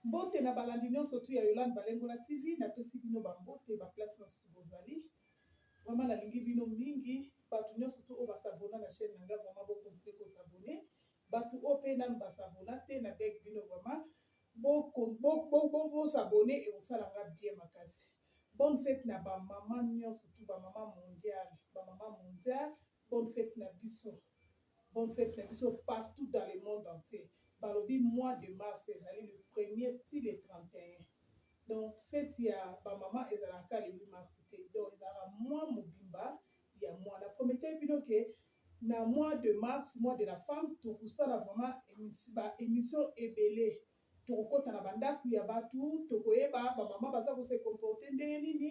Mbote na balandi nionso tout ya Yolande Balengola TV, napesi bino ba mbote ba place nionso bozali. Vraiment nalingi bino mingi, batu nionso tout oyo ba s'abonna na chaine na nga vraiment bo continuer ko s'abonner. Batu oyo pe nanu ba s'abonna te na beg bino vraiment bo bo s'abonner ekosala nga bien makasi. Bonne fete na ba maman nionso tout ba maman mondiale, ba maman mondiale Bonne fete na biso. Bonne fete na biso partout dans le monde entier. Balobi mois de mars ezali le premier ti le 31. Donc fete ya ba maman ezalaka ka le 8 mars te. Donc ezalaka mois mobimba ya mois. Na prometaki bino ke na mois de mars, mois de la femme, tokosala vraiment ba emissions ebele. Toko kota na ba ndaku ya batu toko yeba ba maman baza ko se comporter ndenge nini,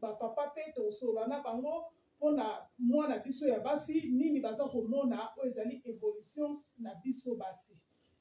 ba papa pe toko solola na bango pona muana biso ya basi nini baza ko mona oyo ezali evolutions na biso basi.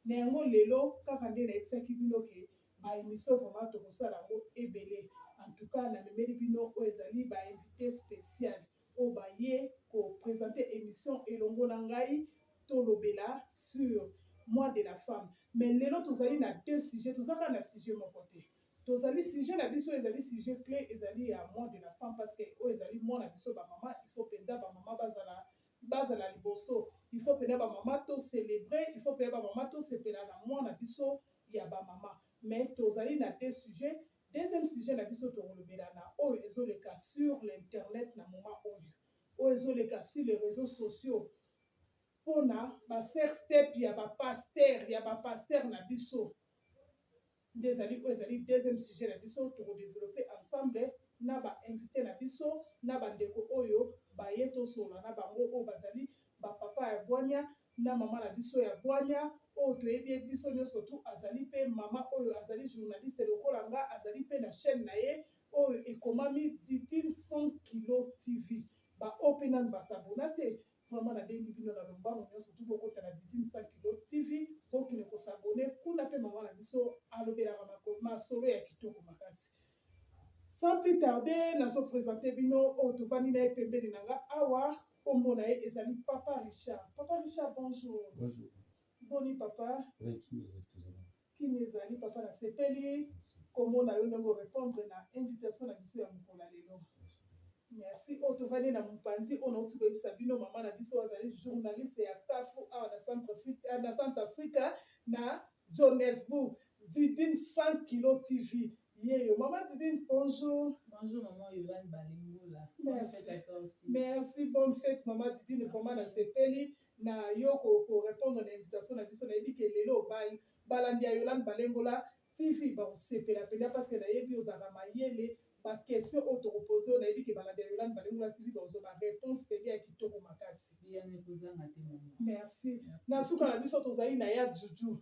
Na yango lelo kaka nde na yebisaki bino ke ba emission vraiment toko sala yango ebele. En tout cas na memeli bino oyo ezali ba invites speciales. oyo baye ko presenter emission elongo na ngai tolobela sur mois de la femme mais lelo tozali na deux sujets toza kaka na sujet moko te tozali sujet na biso ezali sujet cle ezali ya mois de la femme parce que oyo ezali mois na biso ba mama il faut penza ba mama bazala bazala liboso il faut penza ba mama to célébrer il faut penza ba mama to sepela na mois na biso ya ba mama mais tozali na deux sujets Deuxième sujet na biso tokolobela na oyo ezoleka sur l'internet na moment oyo oyo ezoleka sur les réseaux sociaux pona ba sex tape ya ba pasteur ya ba pasteur na biso nde ezali oyo ezali deuxième sujet na biso tokodeveloppe ensemble na ba invité na biso na bandeko oyo baye tosolola na bango oyo bazali bapapa ya bwania na mama na biso ya bwanya oyo toyebi ye biso nionso tout azali pe mama oyo azali journaliste lokola nga azali pe na chaine na ye oyo ekomami Ditine sans kilo TV ba oyo pe nanu ba s'abonna te vraiment na bengi bino na lombango nionso tout bokota na Ditine sans kilo TV bokende ko s'abonner kuna pe mama na biso alobelaka masolo ya kitoko makasi Sans plus tarder, nazo presenter bino oyo tovandi na ye pembeni na nga awa, kombo na ye ezali Papa Richard. Papa Richard, bonjour. Bonjour. Boni papa? Oui, kimia ezali tozala. Kimia ezali papa, nasepeli komona yo ndenge orepondre na invitation na biso ya mokolo ya lelo. Merci. Merci. Oyo tovandi na mopanzi oyo nauti koyebisa bino mama na biso azali journaliste ya CAFU awa na centre Afrique na centre Africa na Johannesburg. Didine 100 kilo TV Ye yo maman Didine bonjour. Bonjour maman Yolande Balingula. Bonne fete à toi aussi. Merci bonne fete maman Didine vraiment na sepeli na yo ko ko répondre na invitation na biso na yebi ke lelo ba balandi ya Yolande Balingula TV ba ko sepela penza parce que na yebi ozalaka mayele ba question oyo toko pose yo na yebi ke balandi ya Yolande Balingula TV ba kozua ba reponse penza ya kitoko makasi. Bien ekozanga te maman. Merci. Na suka na biso tozali na ya Juju.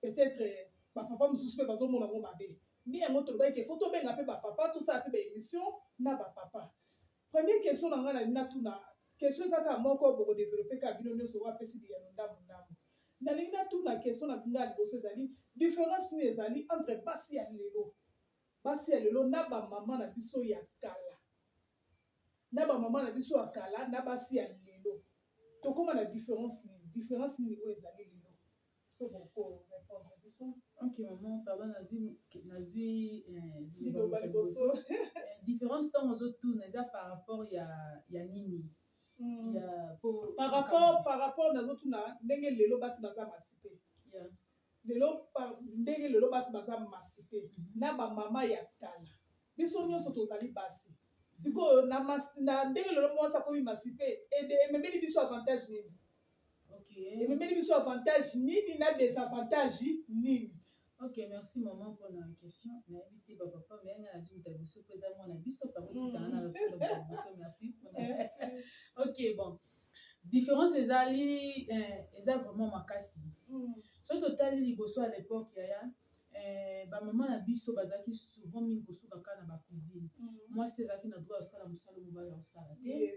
Peut-etre ba papa mususu pe bazo mona ngo mabe. Nde yango tolobaki ke faut tobenga pe ba papa tosala pe ba emission na ba papa. Premier question na nga nalingi natuna question eza kaka moko boko developper kaka bino nionso oyo apesi biyano ndambu ndambu. Nalingi natuna question na nga ya liboso ezali difference nini ezali entre basi ya lelo basi ya lelo na ba mama na biso ya kala na ba mama na biso ya kala na basi ya lelo tokoma na difference nini difference nini oyo ezali lelo Ok maman pardon nazui nazui liloba liboso différence ntango ozotuna eza par rapport ya ya nini hmm. ya po par rapport par rapport nazotuna ndenge lelo basi baza masi te lelo ndenge lelo basi baza masi te mhm. na bamama ya kala biso nyonso tozali basi sikoyo na ndenge lelo mwasi akomi masi te ememeli biso avantage nini okay. ememeli biso avantage nini na desavantage nini ok merci maman mpona question nayebi te bapapa me yanga nazwi moto ya biso mpo eza mwana biso kamotikanga na moto ya biso merci mpona ok bon différence ezali eh, eza vraiment makasi mm. soki totali liboso ya l'époque yaya Eh, ba maman na biso bazalaki souvent mingi kosuka kaka na ba cuisine. Mwasi te azalaki na droit ya kosala mosala oyo mobali akosala te.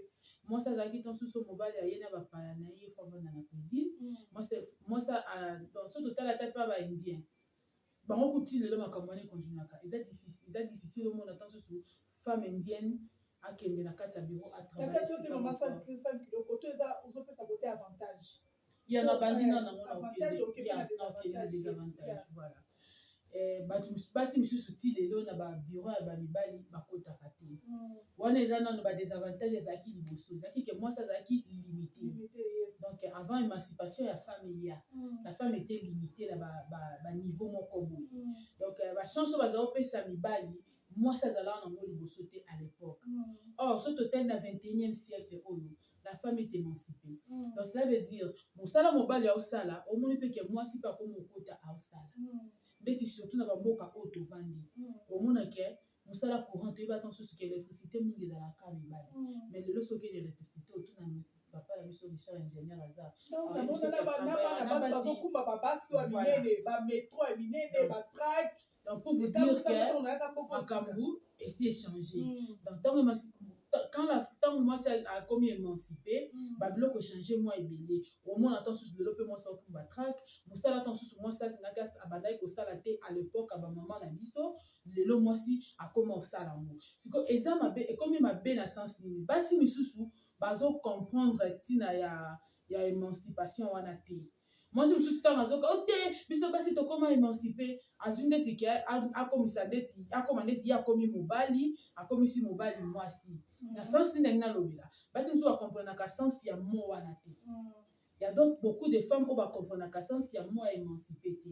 Mwasi azalaki ntango mosusu mobali aye na bapaya na ye fo avanda na cuisine. Mwasi mwasi a- donc soki totala ata mpe ba indien bango kutu ti lelo makambo wana ekontinuaka eza difficile eza difficile omona ntango mosusu femme indienne akende na kati ya bureau Kaka to te maman atravaille sale sale kilo koto eza ozopesa kote avantage. ya na bandi na nango na okende ya na okende na desavantage voilà Eh, bato basi misusu ti lelo na babiro ya bamibali bakotaka te mm. wana eza nano badesavantage ezalaki liboso ezalaki ke mwasi azalaki limité donc avant émancipation ya femme eya mm. la femme ete limité na baniveau moko boye mm. donc euh, bachance oyo bazala kopesa mibali Mwasi azalaka na ngo liboso te à l'epoque. Or, soki totali na 21e siècle oyo, la femme est emancipee. Donc, cela veut dire, mosala mobali aosala, omoni pe ke mwasi pe akomi kokota aosala. Ndeti surtout na ba mboka oyo tovandi, omona ke mosala courant toyebaka mosusu ke electricite mingi ezalaka kaka mibali. Mais lelo soki okeyi na electricite, otuna Papa na biso Richard ingenieur aza donc na mona na ba na bana basi bazo kumba ba basi wa minene ba metro ya minene ba track donc pour vous dire que makambu esi échanger hmm. donc tango masi quand la tango mwasi akomi émancipé hmm. ba biloko échanger mwa ebele omona ntango mosusu lelo mpe mwasi akumba track mosala ntango mosusu mwasi alingaki abandaki kosala te à l'époque ya bamama na biso lelo mwasi akoma kosala yango sikoyo eza mabe ekomi mabe na sens nini basi misusu bazo comprendre tina ya ya emancipation wana te mwasi mosusu ntango azoka o oh, te biso basi tokóma émancipe azwi ndeti ke akomisa ndeti akóma ndeti ye akómi mobali akomisi mobali mwasi mm. na sense nini ndenge nalobela basi mosusu bakomprenaka sense ya mo wana te mm. Ya donc beaucoup de femmes oyo ba comprenaka sens ya mot ya emancipe te.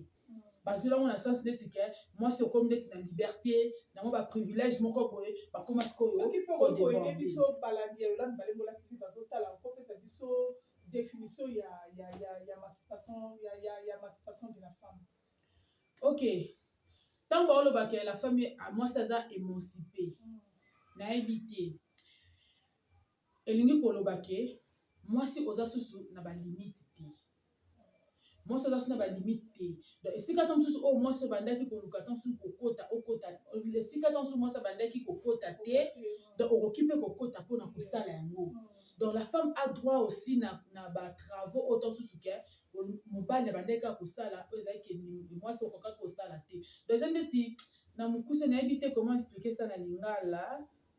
Bazweli yango na sens neti ke mwasi okomi neti na liberte, na mwa ba privilège moko boye, bakoma sikoyo ko deborde. Soki pe okoki koede biso balandi ya Yolande Balengola TV bazotala, okopesa biso definition ya emancipation de la femme? Ok. Tango baoloba ke la femme, mwasi aza emancipe, nayebi te. Elingi koloba que mwasi oza susu na ba limite te. Mwasi oza susu na ba limite te. Donc esika to mosusu oyo mwasi obandaki koluka to mosusu kokota okota esika to mosusu mwasi abandaki kokota te donc okoki mpe kokota mpo na kosala yango. Donc la femme a droit aussi na, na ba travaux oyo to mosusu ke mobali abandaki kaka kosala oyo ezali ke mwasi okokaki kosala te. Donc eza ndeti na mokuse nayebi te comment expliquer ça na lingala.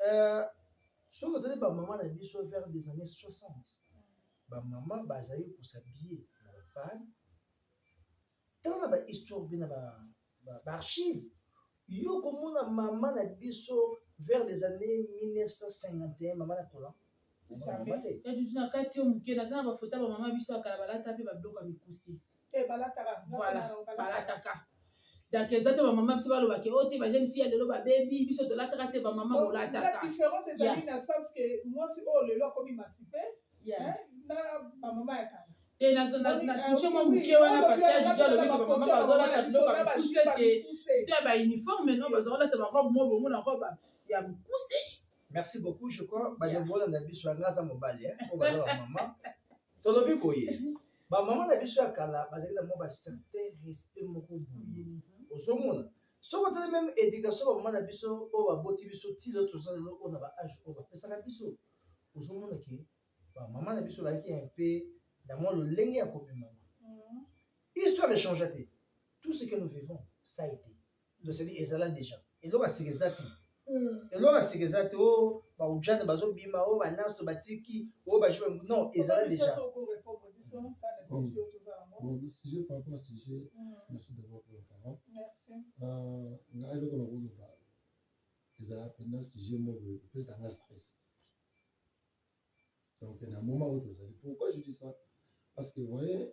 Euh, soki otali bamama na biso vers des années 60 bamama bazali kosabiye na bapane ntango na bahistoire mpe na baarchive yo komona mama na biso vers des années 1951 mama na kola etutu na kati yo moke naza na bafota bamama biso ya kala balata mpe babiloko ya mikuse eh, balataka donc eza te bamama biso balobaka o oh, te bajeune fille ya lelo babebi biso tolataka te bamama bolataka différence ezali na sens ke mwasi oyo oh, lelo akomi masipe na bamama ya kala te natouche mwa moke wana parce que adidi alobi ke bamama bazolata biloko ya mikuse te sito ya bauniforme no bazolata barobe mo bongo na robe ya mikuse Merci beaucoup, je crois bandeko yeah. na biso yanga aza mobali eh, oyo baza bamama tolobi boye bamama na biso ya kala bazali na mwa bacertain respect moko boye mhm. ozomona soki otali meme éducation bamama na biso oyo baboti biso tilo toza lelo oyo na baage oyo bapesaka biso ozomona ke bamama na biso bazalaki un peu na mwa lolenge ya komemama mhm. histoire echangea te tout ce que nous vivons ça été toseli ezala deja eloko ya sika eza te hmm. eloko ya sika eza te o oh, baujane bazobima o oh, banaso batiki o oh, baje non ezala deja sujet par rapport à sujet hmm. merci d'abord pour la parole euh, nga eloko na koloba ezala mpenza sujet moko epesa nga stress donc na moment oyo tozali pourquoi je dis ça parce que voyez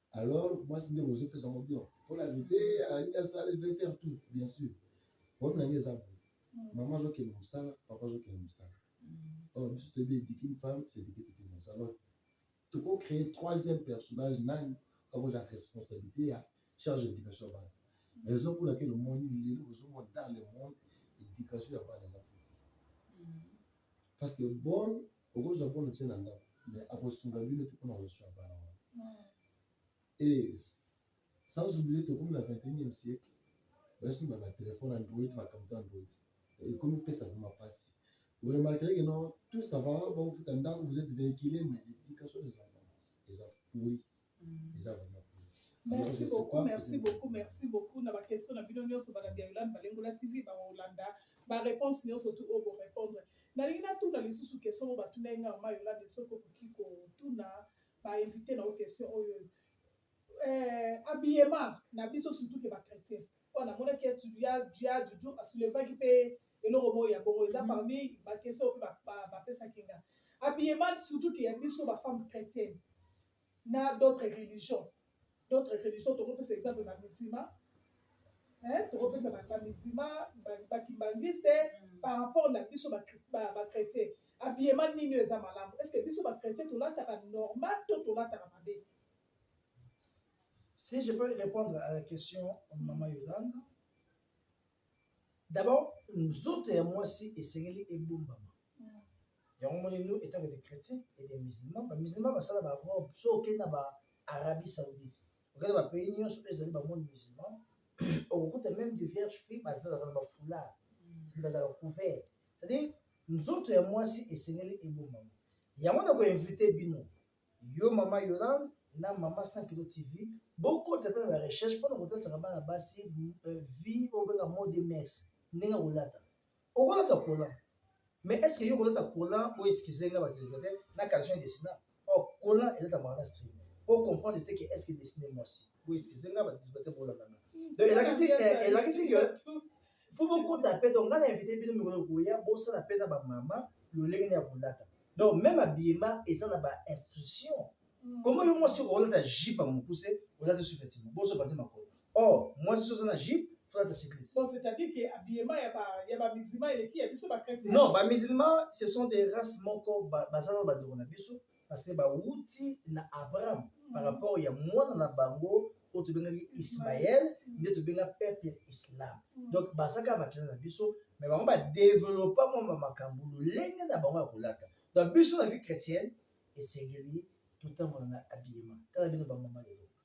alors mwasi nde bozo pesa ngo bion mpo na vite alingi asala il veut faire tout bien sûr problème na ngai eza boye mama azokende mosala papa azokende mosala or biso toyebi ediki une femme c'est ediki toute une nation alors toko créer troisième personnage nani akozala responsabilité ya charge d'éducation ya bana raison pour laquelle omoni lelo ozomona dans le monde éducation ya bana eza fouti parce que bonne okozwa mpo na otie na ndako me akosunga bino te mpo na kozwa bana wana e sans oublie tokomi na 21e siècle basi ba batelefone android makambo to android ekomi pesa vrima mpasi oremarkeke no tout ça va baofuta ndako vous êtes véhicule mais l'éducation des enfants eza pourri eza vraiment Merci beaucoup, merci beaucoup, merci beaucoup. Na ba question na bino nyoso ba landi Yolande Balengola TV ba Holanda. Ba réponse nyoso tout au répondre. Na lingi na tout na lisusu question ba tuna nga ma Yolande soko kuki ko tuna ba invité na question oyo. Euh, habillement na biso surtout que ba chrétiens. Wana amonaki ete Dia Dudu asoulevaki mpe eloko moko ya bongo eza parmi bakese oyo mpe bapesaki nga habillement surtout ke ya biso bafemme chrétienne na d'autres religions d'autres religions tokopesa exemple na mitima tokopesa bamitima bakimbanguiste mm. par rapport na biso bachrétien habillement nini oyo eza malamu est ce que biso bachrétien tolataka normal to tolataka mabe Si je peux répondre à la question, Maman Yolande, d'abord, nzoto ya mwasi esengeli ebombama yango moni nous étant des chrétiens et des musulmans bamusulman basala barobe so okei na ba arabie saoudite okei na bapays nyonso oyo ezali bamonde musulman okokuta même de vierge fille bazalaka na bafoulard sadi bazalaka couvert c'est-à-dire nzoto ya mwasi esengeli ebombama yango na koinvite bino Yo maman Yolande na maman 100 kilo TV bokota mpe na ba recherche mpo na kotatisaka bana basi euh, vie oyo benga mode mers ndenge ya kolata okolata kola mais est ce que yo kolata kola o excuse nga batelekate na caleçon ya desina o oh, kola elatamaka na stream po comprendre te ke est ce que desine mwasi o excuse nga batisbate bolakanga donc elakisi eh, elakisi ke Faut bokota pe donc nga na invite bino mikolo boya bosala pe na ba mama lolenge nini ya kolata. Donc même habillement eza na ba instructions. Mm. Comment yo mwasi okolata jupe ya mokuse olata sous-vêtement boso panzi makolo. Or mwasi soza na jupe folata cycliste. Donc c'est-à-dire que habillement ya ba ya ba musulmans eleki ya biso ba chrétiens. Non, ba musulmans ce sont des races moko bazana ba ndeko na biso. parce que bawuti na abraham mm. par rapport ya mwana na bango oyo tobengaki ismael nde tobenga peuple ya islam mm. donc bazaka bakila na biso me bango badevelopa mwa bamakambo lolenge na bango ya kolata donc biso na vie chrétienne esengeli totambola na habillement tala bino bamama lelo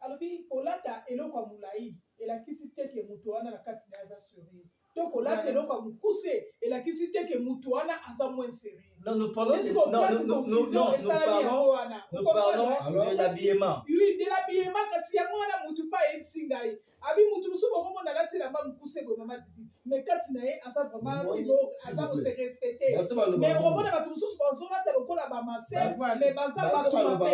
Alobi kolata eloko ya mulayi elakisi te ke mutu wana na kati na ye aza serieux to kolata Voilà. eloko ya mukuse elakisi te ke mutu wana aza moins serieux. Non, nous parlons Est-ce de- qu'on non, place nous- nous- confusion nous- nous esalami parlons- yango wana? Nous Vous comprenez? parlons Alors, de l'habillement. Oui, de l'habillement kasi yango wana mutu mpe ayebisi ngai abi mutu mosusu bokomona alati elamba mokuse boye mama mais kati na ye aza vraiment filo aza ko se respecter mais omona bato mosusu bazolata lokola bamase mais baza bato mabe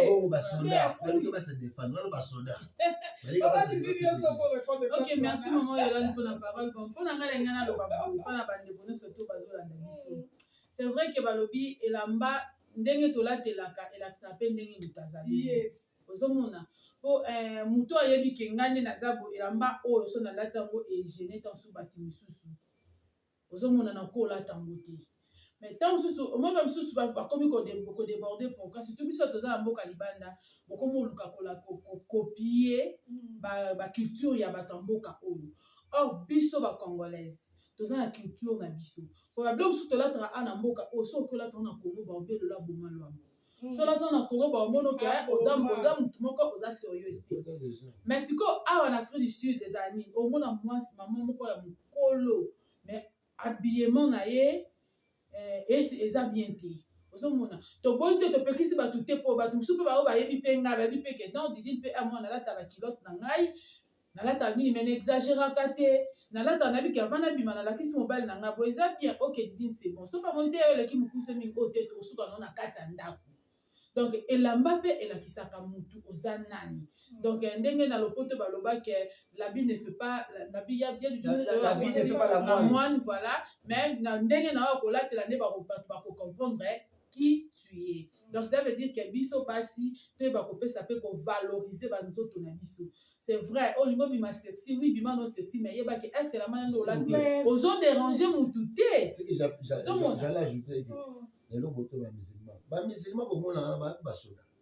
ok merci mama yolani mpona parole bon mpona ngai na ngai naloba boye mpona bandeko nyonso to bazolanda biso c'est vrai ke balobi elamba ndenge tolatelaka elakisaka mpe ndenge moto azali ozomona po eh, moto ayebi ke ngai nde naza bo elamba oyo so nalati yango egene ntango mosusu bato mosusu ozomona na ko olata yango te mais ntango mosusu omoni ba mosusu bakomi kodeborde pourka surtout biso toza na mboka libanda bokomi oluka kokopie baculture ya bato ya mboka oyo or biso bacongolaise toza na culture na biso po babiloko mosusu tolataka a na mboka oyo soki olataka na congo baobelola boma lwango Mm. soki nazo na congo baomono ke ah, oza motu moko oza serieuse te mais sikoyo awa na afrique du sud ezala nini omona mwasi mama moko ya mokolo mais habillement na ye eh, eza bien te ozomona toboyi te topekisi bato te mpo bato mosusu mpe baoyo bayebi mpe ngai bayebi mpe ke non didine mpe amwana alata bakilote na ngai nalataka mingi mais na exageraka te nalataka nayebi ke avant nabima nalakisi mobali na ngai boye eza bien ok didine c'est bon soki amoni te yo eleki mokuse mingi oyo te tokosuka nao na kati ya ndako donc elamba mpe elakisaka mutu oza nani mm. donc eh, ndenge na lopoto balobaki eh, labi ne fait pas labi ya bien du moine voilà mais na ndenge na oyo kolatela nde bakocomprendre eh, qui tu es donc cela veut dire que biso basi toyeba kopesa mpe kovalorize banzoto na biso c'est vrai oyo oh, lingo bima sexy oui bima no sexy mais yeba ke est ce que la mana nde olati ozo déranger mutu te j'allais ajouter que lelo boto ba musulman ba musulman bomonaka na basoda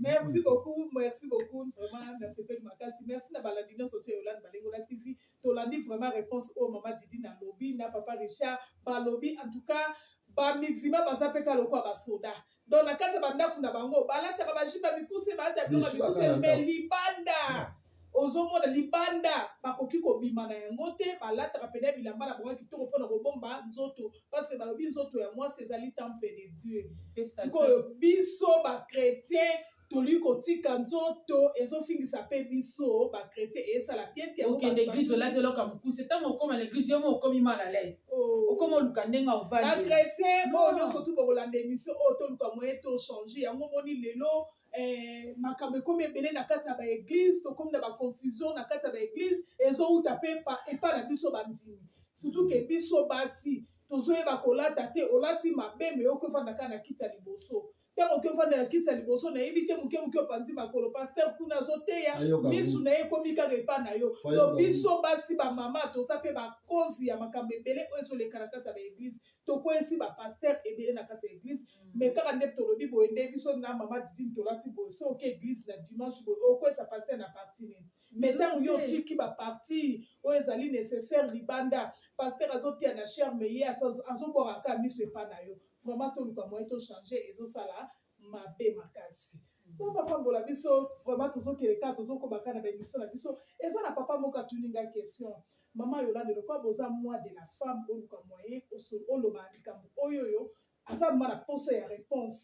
merci beaucoup merci beaucoup vraiment nasepeli makasi merci na balandi nyonso to yolani balengola tv tolandi vraiment réponse oyo mama didi na lobi na papa richard balobi en tout cas bamixima baza mpe ka lokola basoda donc na kati ya bandako na bango balataka bajiba mikuse balata biloko mikuse me libanda Ozomona libanda bakoki kobima na yango te, balataka pena bilamba na bango ya kitoko mpo na kobomba nzoto parce que balobi nzoto ya mwasi ezali temple de Dieu. Sikoyo biso ba chrétiens tolingi kotika nzoto ezofingisa mpe biso ba chrétiens esala bien te. Okende église olati eloko ya mokuse, ntango okoma na église yo moko okomi mal à l'aise. Oh. Okoma oluka ndenge ovandi. Ba chrétiens oyo nyonso tu bokolanda émission oyo toluka moyen to changer yango omoni lelo eh, makambo ekomi ebele na kati ya baeglize tokomi na baconfusion na kati ya baeglize ezowuta mpe epai na biso bandimi surtout ke biso basi tozoyeba kolata te olati mabe me oki ofanda kaka na kiti ya liboso ntango oki ofanda na kiti ya liboso nayebi te moke moke opanzi makolo paster kuna azoteya misu na ye ekomi kaka epai na yo to biso basi bamama toza mpe bakozi ya makambo ebele oyo ezoleka na kati ya baeglize tokweyisi ba pasteur ebele na kati ya eglise mm. mais kaka nde tolobi boye nde biso na mama didine tolati boye so oke eglise na dimanche boye okweyisa pasteur na parti nini mais ntango yo otiki baparti oyo ezali nécessaire libanda pasteur azotia na cher mais ye azobwaka kaka miso epa na yo vraiment toluka moyen tochange ezosala mabe makasi nzambe apambola biso vraiment tozokele kaka tozokoba kaka na baemission na biso eza na papa moko atuni nga question mama yolande lokola boza moi de la femme oluka moyen oloba likambo oyo oyo aza ma na posa ya réponse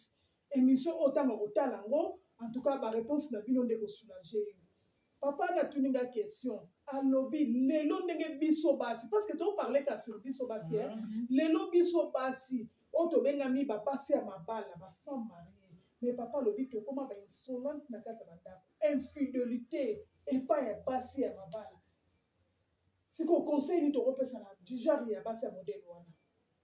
émission oyo ntango akotala yango en tout cas baréponse na bino nde kosoulage yo Papa na tuni nga question alobi lelo ndenge biso basi parce que to parler ka sur biso basi mm -hmm. lelo biso basi oyo tobengami ba basi ya mabala ba femme marie mais papa alobi tokoma ba insolente na kati ya bandako infidelité epai ya basi ya mabala siko conseil nini tokopesa na du genre ya basi ya modele wana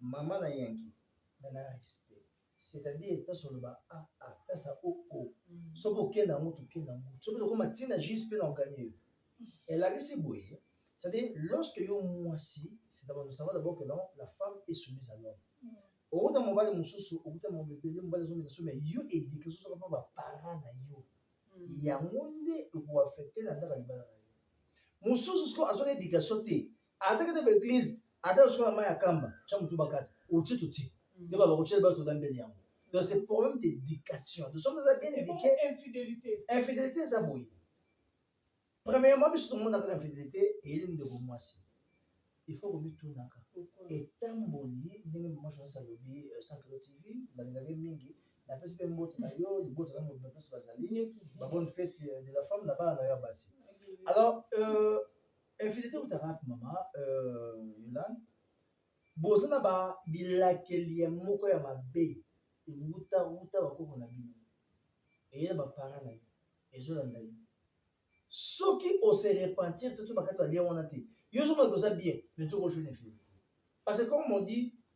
Maman na yanki mais na respect c'est à dire place oloba a a place ya o o soki oke na yango toke na yango soki tokoma ti na jus mpe na oganie elakisi boye c'est à dire lorsque yo mwasi c'est d'abord nous savons d'abord que non la femme est soumise à l'homme okuta mobali mosusu okuta mambo ebele mobali azomela so mais yo edike osusu kapa baparent na yo yango nde ekoaffecte na ndaka libala na yo mosusu sikoyo azwaka edikation te ata kete ba eglise ata osuka na mai ya kamba tya motu bakata oti toti nde baba kotyela bato na mbeli yango donc c'est problème d'éducation nous sommes eza bien éduqué infidélité infidélité eza boye premièrement biso tomonaka na infidélité eyeli ndeko mwasi il faut komitunaka etamboli ndenge mama jonas alobi euh, centre tv nalingaki mingi napesi mpe mbote na yo libota na mobima mpenso bazali babone fete euh, de la femme na bana na yo ya basi alors euh, Infidélité ou tarak maman euh, Yolande boza na ba bilakeli ya moko ya mabe ewuta wuta bakoko na bino eye na bapara na yo ezolanda yo soki ose repentir te to bakati balia wana te yo ozomona koza bien mais nzoka ojoni infidélité parce que comme on dit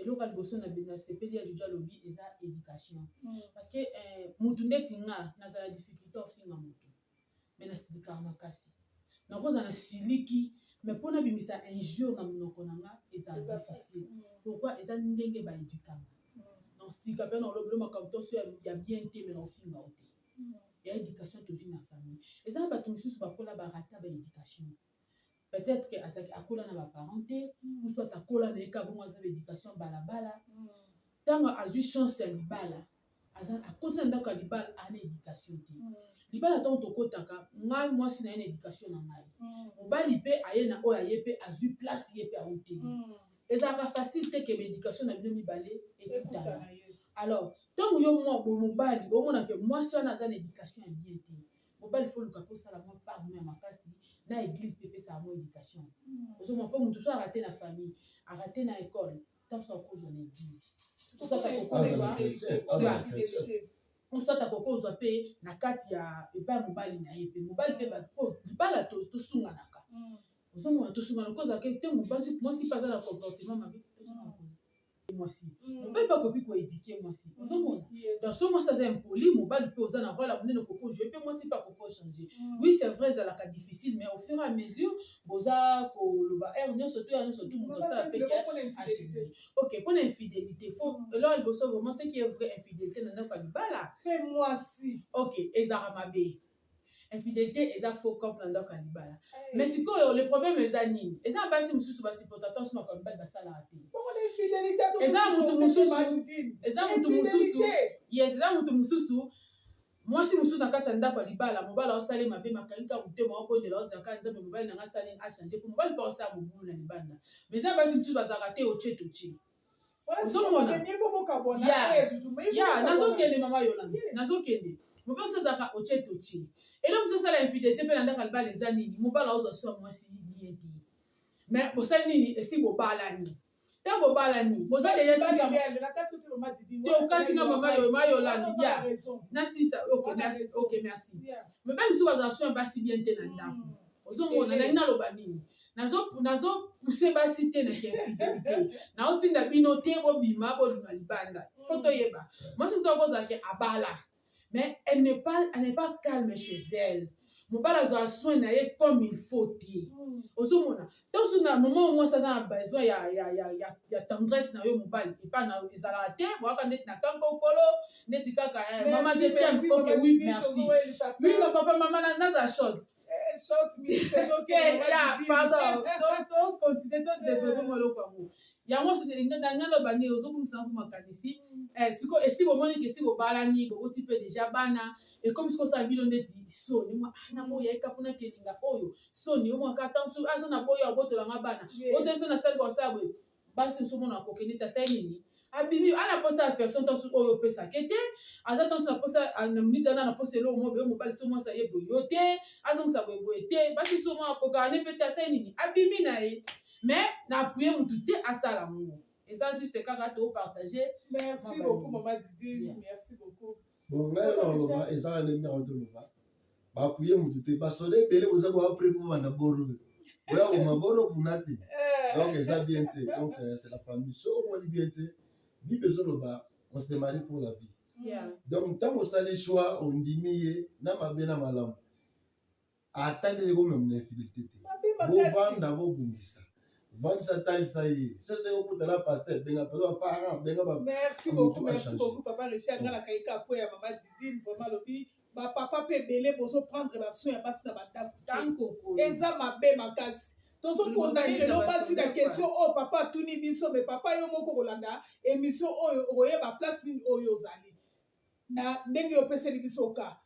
eloko ya liboso na na sepeli ya jojo alobi eza education mm. parce que eh, mutu ndeti nga nazala difficulté ofinga mutu me nasilikaka makasi nakozala na siliki me mpo nabimisa injure na monoko na nga ezala difficile mm. pourquoi eza ndenge baedukama mm. donc sika mpe naolobelo makambo toso ya bien te me naofinga o te ya education tozwi na famille eza na bato mosusu bakola barata baeducation peut être que azalaki akola na ba parents te ou soit akola na ye kaka bongo aza ba éducation balabala ntango mm. azwi chance ya libala akoti na ndako ya libala aa na éducation te mm. libala ntango tokotaka ngai mwasi na ye na éducation na ngai mm. mobali mpe aye na oyo aye mpe azwi place ye mpe auteli ezalaka facile te ke baéducation na bino mibale ekutana alors ntango yo mwa bomobali omona ke mwasi wana aza na éducation ya bien te mobali fo luka mpe osala mwa part mwa ya makasi na eglise mpe epesaka mwa éducation ozomwa mpo moto so arate na famille arate na école ntango so akozwa na eglise osata kokozwa osata kokozwa mpe na kati ya epai ya mobali na ye mpe mobali mpe po libala tosunganaka ozomona tosungana kozala ke te mobasi mwasi mpe aza na comportement mabe mwasi mobali mpe akoki koedike mwasi ozomona donc so mwasi aza impoli mobali mpe oza na role ya monene koko joue mpe mwasi mpe akoko change mm. oui c'est vrai ezalaka difficile mais au fur et à mesure boza koloba heure nyonso to ya nyonso tu moto asala mpe achange ok mpo na infidélité fo mm. eloko liboso vraiment ce qui est vrai infidélité na ndako ya libala mpe mwasi ok ezalaka mabe infidelite eza faux cop na ndako ya libala mais sikoyo le problème eza nini eza na basi mosusu basupporta to nsima kaka mibali basalaka te eza motu mosusu eza motu mosusu yes eza motu mosusu mwasi mosusu na kati ya ndako ya libala mobali aosali mabe makangi kaka motema obondela ozala kaka nzambe mobali na ngai asali achange po mobali mpe aosala mobulu na libanda mais eza basi mosusu bazalaka te otie totie ozomona ya nazokende mama yolanda nazokende mobali mosusu azalaka otie totie eloko mosusu osala infidelité mpe landaka libala eza nini mobali aozwa so ya mwasi ye te me bosali nini esi bobalani ntango bobalani boza deja sikaokatinga mama yolanda ya na sista ok merci mobali mosusu bazala so ya basi bien te na ndako hmm. ozomona nalingi naloba nini nazopuse basi te na kiinfidelité naotinda bino te bobima bobima libanda fo mm. toyeba mwasi mosusu akozala ke abala mais elle n'est pas, elle n'est pas calme chez elle mobali azwa soin na ye comme il faut te mm. ozomona ntanso na moma o mwasi aza na besoin ya, ya, ya, ya, ya tendresse na yo mobali epa na ezalaka te boyaka ndeti na kanka okolo ndeti kaka eh, mama je t'aime ok oui merci oui ma papa mama nazala short Eh, short minute ezokenda pardon tocontinue todevelope mwa eloko yango yango ndanga loba nini ozobungisa yango makanisi eh, siko esi bomoni ke esi bobalani boboti mpe deja bana ekomi siko osala bino ndeti soni mwa ah, na moya eka mpona kelinga oyo soni omwaka ntango soki azo na boyo abotolanga bana oteso nasali kosala boye basi mosusu mona kokende te asali nini abimi ana posa ya version ntanso oyo opesaka ye te aza ntanso na posa na miniti ana na posa eloko moko boye mobali so mwasi aye boye yo te azongisa boye boye te basi mosusu mona kokana ne mpe te asali nini abimi na ye mais na appuye motu te asala yango eza juste kaka topartage merci beaucoup mama didi merci beaucoup bon ngai na oloba eza na ndenge nako toloba bakuye motu te basoda ebele boza boya pre po banda boro boya koma boro kuna te eh. donc eza bien te donc euh, c'est la famille soki omoni bien te bible ezoloba on se marie pour la vie donc ntango osali choix ondimi ye na mabe na malamu ata ndenge komema na infidélité te bovanda bobongisa vandisa talisa ye sese okuta na pasteur benga pelo ya parent benga ba merci beaucoup merci beaucoup papa richard nga nakai ka po ya mama didine vraiment lobi ba papa pe belé bozo prendre ba soins ya basi na ba ndako eza mabe makasi tozo condamne lelo basi na question oyo oh, papa atuni biso me papa yo moko kolanda émission oyo okoyeba place nini oyo ozali na ndenge opeseli biso ka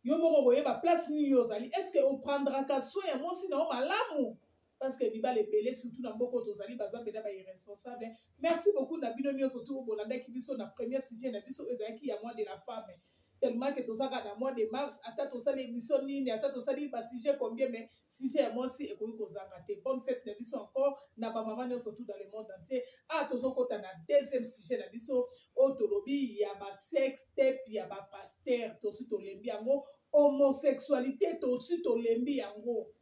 Yo moko okoyeba place nini yo ozali. Est-ce que o prendraka soin ya mwasi na yo malamu? Parce que mibali ebele surtout na mboka oyo tozali baza mpenza ba irresponsables. Merci beaucoup na bino nionso tout oyo bolandaki biso na premier sujet na biso oyo ezalaki ya mois de la femme. Tellement que toza kaka na mois de mars ata tosali emission nini ata tosali ba sujets combien mais Sujet ya mwasi ekoki kozanga te. Bonne fete na biso encore na ba maman nionso tout dans le monde entier. Awa tozo kota na deuxième sujet na biso oyo tolobi ya ba sex tape ya ba pasteur tosi tolembi yango homosexualité tosi tolembi yango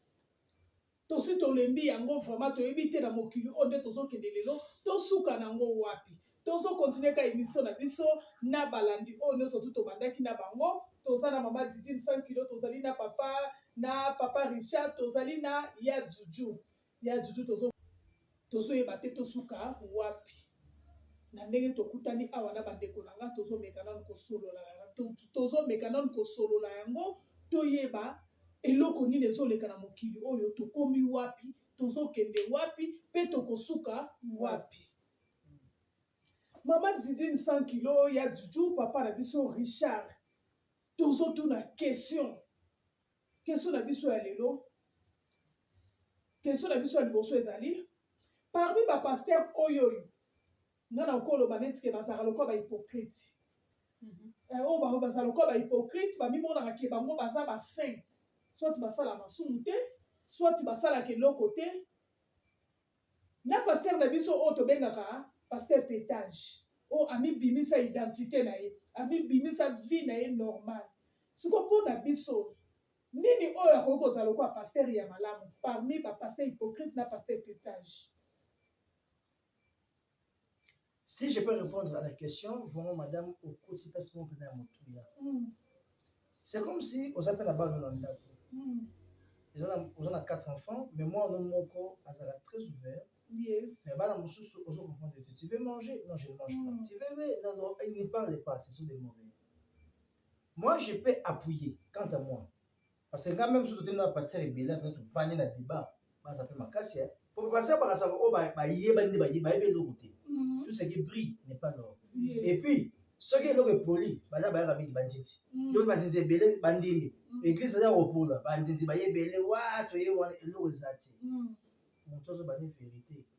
tosi tolembi yango vraiment toyebi te na mokili oyo nde tozokende lelo tosuka na yango wapi tozo continue ka emission na biso na balandi oyo nyonso tu tobandaki na bango toza na mama didine 5 kilo tozali na papa na papa richard tozali na ya juju ya juju tozo tozoyeba te tosuka wapi na ndenge tokutani awa na bandeko na nga tozomeka nanu kosolola tozomeka nanu kosolola yango toyeba eloko nini ezoleka na mokili oyo tokomi wapi tozokende wapi mpe tokosuka wapi Maman Didine 100 kilos, ya Juju, papa na biso Richard. Tozo tuna question. Question na biso ya lelo. Question na biso ya liboso ezali parmi ba pasteur oyo oyo nga na okoloba neti ke bazalaka lokola ba hypocrite mm -hmm. eh, oyo bango bazala lokola ba hypocrite bamimonaka ke bango baza ba saint soit basala masumu te soit basalaka eloko te Na pasteur na biso oyo tobengaka pasteur petage oyo amibimisa identite na ye amibimisa vie na ye normal siko mpo na biso nini oyo akoki kozala lokola pasteur ya malamu parmi ba pasteur hypocrite na pasteur petage Si je peux répondre à la question, vraiment madame, okoti pasi moko mpena ya motuya. Hmm. C'est comme si oza mpe na bana na ndako. Hmm. Oza na quatre enfants, mais mwana moko azala très ouvert. Yes. Mais bana mosusu ozo comprendre que tu veux manger, non je ne mange pas. Hmm. Tu veux mais non non, il ne parle pas, ce sont des mauvais. Moi je peux appuyer quant à moi. Parce que quand même soki totemela pasteur ebele mpe tofandi na débat baza mpe makasi eh. mpo pasteur bakasaka oyo bayebani nde bayebi bayebi eloko te mhm. tout ce qui brille n'est pas l'or et puis soki eloko epoli bana bayaka mingi bandindi mhm. yoi bandindi ebele bandimi mhm. église aza kopola bandindi baye ebele wa toye wana eloko eza te moto azobani vérité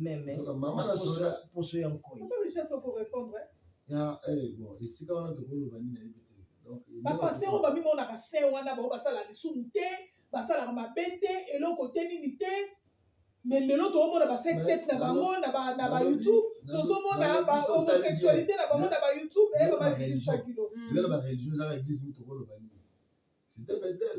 meme poso ya nkoi esika wana tokoloba nini nayebi te bapastere oyo bamimonaka se wana bango basalaka lisumu te basalaka mabe te eloko te nini te me lelo toomona basextep na bango na bayoutube tozomona bahomosexualité na bango na bayoutube eye bamadilisakilo yo na bareligion ezaka eglise mitokoloba nini site betel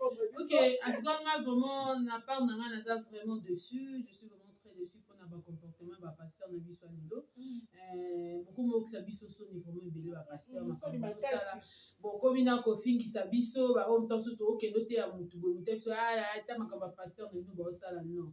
Ok, en tout cas, moi, vraiment, na part na nga, ça vraiment dessus. Je suis vraiment très dessus pour na ba comportement ba pasteur na biso lelo. Mm. Euh, beaucoup mo kisa biso so ni vraiment belé ba pasteur na mm, ba sala. Bon, comme ina ko fingi sa biso, ba on tanso to ok, lote ya mutu bo mutu. Ah, ta makamba pasteur na nous ba sala non.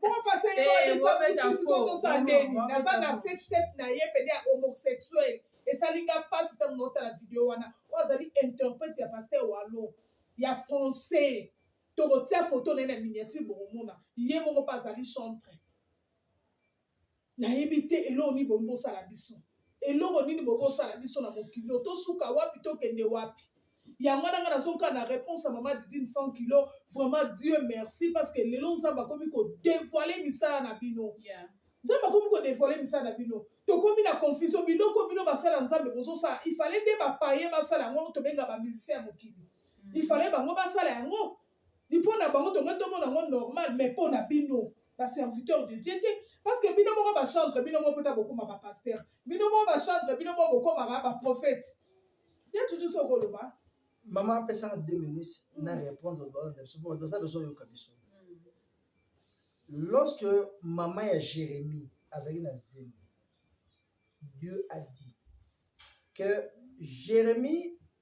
Bon, parce que Eh, moi, mais t'as faux. Non, non, moi, mais naza t'as na faux. sex tape na ye pede ya homosexuel esali nga mpasi ntango naotala video wana oyo azali interprète ya paster walo ya français tokotia foto na ye na miniature bokomona ye moko mpe azali chantre nayebi te eloko nini bongo bosala biso eloko nini bongo bosala biso na mokili oyo tosuka wapi tokende wapi yango wana ngai nazonga na réponse ya mama didine 100 kilo vraiment dieu merci parce que lelo nzambe akomi kodevoile misala na bino yeah. nzambe akomi kodevoile misala na bino tokomi na confusion biloko bino basala nzambe bozosala ifale nde bapaye basala yango tobenga bamusicien ya mokili mm. ifale bango basala yango Ni pona bango tonga tomona ngo normal mais pona bino ba serviteur de Dieu te parce que bino moko ba chantre bino moko pota bokoma ba pasteur bino moko ba chantre bino moko bokoma ba ba prophète ya tutu so koloba maman apesa nga 2 minutes mm. na répondre ba na biso pona toza besoin yoka biso mm. lorsque maman ya Jérémie azali na zemi Dieu a dit que Jérémie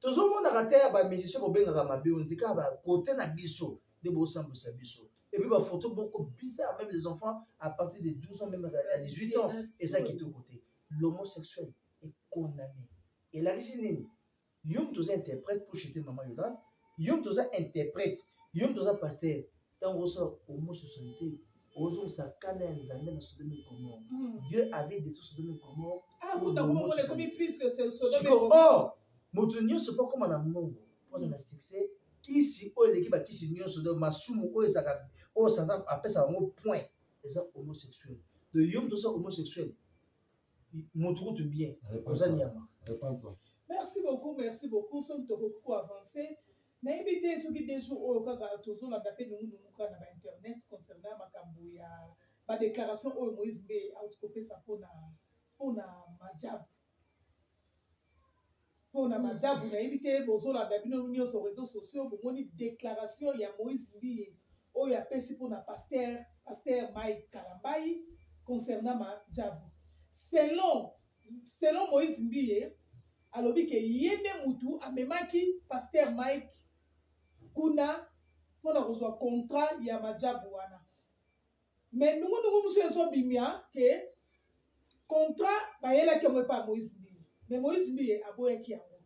Tozo mona kata ya ba musiciens bo bengaka mabe on dit ka ba côté na biso de bo sambusa biso. Et puis ba photo boko bizarre même les enfants à partir de 12 ans même à 18 ans et ça qui te côté. L'homosexuel est condamné. Et là ici nini? Yom toza interprète pour chuter maman Yolande. Yom toza interprète. Yom toza pasteur. ntango osala homo 62 ozongisa kanda ya nzambe na sodome gomore hmm. dieu avait détruit sodome gomore ah, sikoyo oh, moto nyonso mpo akoma na mbongo mpona na succès kisi oyo eleki bakisi nyonso do masumu oyo ezalaka oyo satan apesaka yango point eza homosexuel de yo moto oza homosexuel moto kutu bien oza nyama merci beaucoup merci beaucoup soki tokoki koavance Nayebi te soki deux jours oyo kaka tozolanda pe nungu nungu kaka na ba internet concernant makambo ya ba declarations oyo Moïse Mbe auti kopesa pona pona Majabu pona hmm. Majabu nayebi te bozolanda bino nyonso réseaux sociaux bomoni declaration ya Moïse Mbiye oyo apesi pona pasteur pasteur Mike Kalambayi concernant Majabu selon selon Moïse Mbiye alobi ke ye nde mutu amemaki pasteur mike kuna mpo na kozwa contrat ya majabu wana me nungunungu mosusu ezobimia ke contrat bayelaki yango epai ya moïse mbiye me moïse mbiye aboyaki yango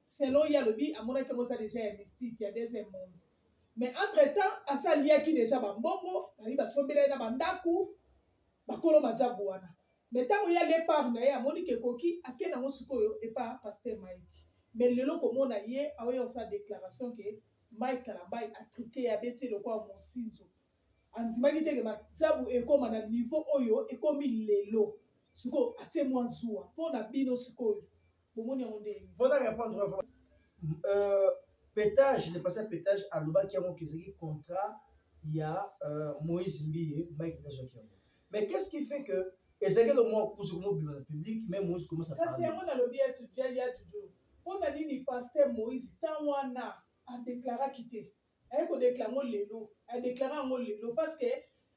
selon ye alobi amonaki yango eza deja ya mystique ya deuxième monde mais entre temps asi aliaki deja bambongo bayi basombela ye na bandako bakolo majabu wana Mais tango ya depart naye amoni ke ekoki ake nango sikoyo epa pasteur Mike mais lelo komona ye aoya kosala declaration ke Mike kalambay a trique ye abeti ye lokola mosinzo andimaki te ke masabu ekoma na niveau oyo ekomi lelo sikoyo atie mua zuwa pona bino sikoyo bomoni yango nde pona repondre euh, petage le pasteur petage alobaki yango ke ezalaki contrat ya euh, Moïse Mbiye Mike nazwaki yango Mais qu'est-ce qui fait que ezalaki elongo mwa kusu komobima na public mais moïse commence à parler. Kasi yango nalobi ya tudiali ya tudu. Mpo na nini pasteur Moïse temps wana adeklaraki te? Aye kodekla yango lelo, adeklara yango lelo parce que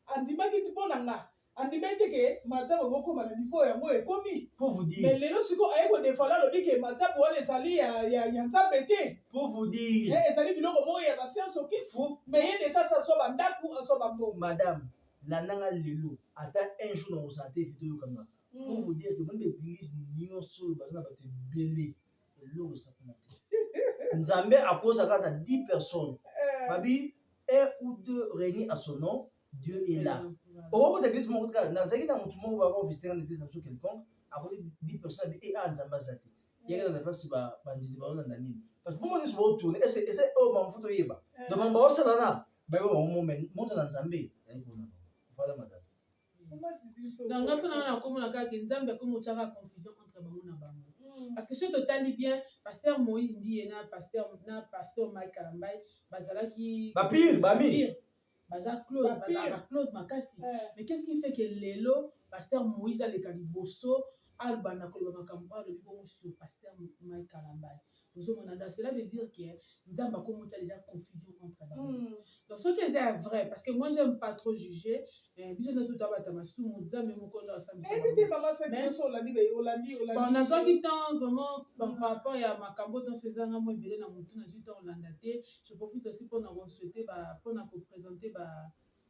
andimaki te mpo na nga andimaki te ke matsabu ekokoma na niveau yango ekomi pour vous dire mais lelo siko aye kodefala alobi ke matsabu wana ezali ya, ya, ya nzambe te pour vous dire eh, ezali biloko moko ya basianse okisi mais ye deja asa azwa bandako azwa bambongo madame landa nga lelo ata un jour nakozala te vite oyokanga hmm. pour vous dire que meme baeglise nyonso oyo baza na bato ebele eloko esakoma te nzambe akosa kaka 10 personnes eh. babi un ou deux réunis à son nom dieu est là okokota eglise moko kaka nazalaki na motu moko bako visite na eglise na biso quelconque akoti 10 personnes abi e eh, a ah, nzambe aza te yeke na place bandizi baolanda nini parce que bomoni nyonso baotourne ese oyo bamafuta oyeba eh. donc bango baosalana bayo bango mo me moto na nzambe ezali kuna voilà madame donc nga mpona wana nakomona kaka nzambe akomi otyaka confusion entre bango na bango hmm. parce que soki totali bien pasteur moïse ndiye na pasteur na pasteur mike kalambai bazalaki bapire bami baza close bazalaka close makasi eh. mais qu'est ce qui fait que lelo pasteur moïse aleka liboso abanda koloba makambo oyo alobi bongo sur pasteur Mike Kalambay ozo mona donc cela veut dire que nzambe akomi otia déjà confusion entre bango mm. donc soki eza ya vrai parce que moi j'aime pas trop juger eh, biso nde tuta bata masumu nzambe moko nde asambisabonazwaki temps vraiment par rapport ya makambo tonso ezanga mo ebele na motu nazwi temps olanda te je profite aussi mpona kosouhaite mpona kopresente ba, ba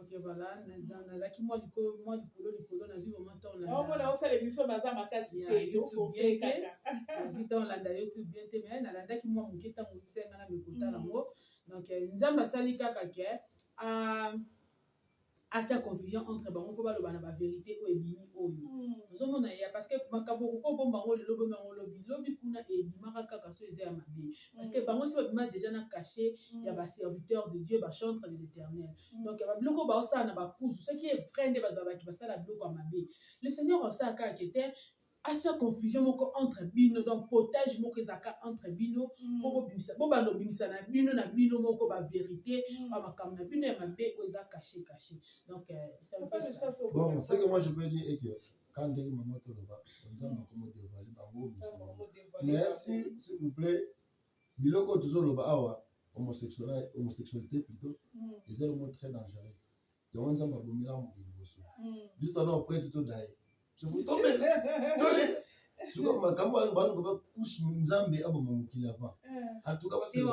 Ok voilà, nazalaki mwa likolo mwa likolo likolo nazwi vraiment temps landa. Au mona osala émission baza makasi te yo kose kaka. Nazwi temps landa YouTube bien te mais nalandaki mwa moke ntango oyebisaki ngai na mikota yango. Mm. Donc euh, Nzambe asali kaka ke euh, atya confusion entre bango mpo baloba na baverité oyo ebimi oyo mm. ozomona ya parce que makambo okoki obomba yango lelo obomba yango lobi lobi kuna ebimaka kaka so eza ya mabe Parce que bango si babima déjà na cachet mm. ya ba serviteur de Dieu ba chantre de l'Éternel. Mm. Donc ba biloko ba osala na ba kuzu ce qui est vrai nde ba baki basala biloko ya mabe. Le Seigneur osala kaka que te asya confusion moko entre bino donc potage moko ezalaka entre bino mm. po bobimisa bo bando bimisa na bino na bino moko ba vérité mm. ba makambo na bino ya mabe oyo eza caché caché donc euh, bon ce que moi je peux dire est que Quand ndenge maman toloba nzambe akomo devale bango obimisa bango mais si s'il vous plaît biloko oyo tozoloba awa homosexualité plutôt mm. eza elongo très dangereux yango nzambe abomela mokili liboso mm. biso tana oprete todaye tombele tole siko makambo wana bana baba couche nzambe aboma mokili avant eh. antuka basala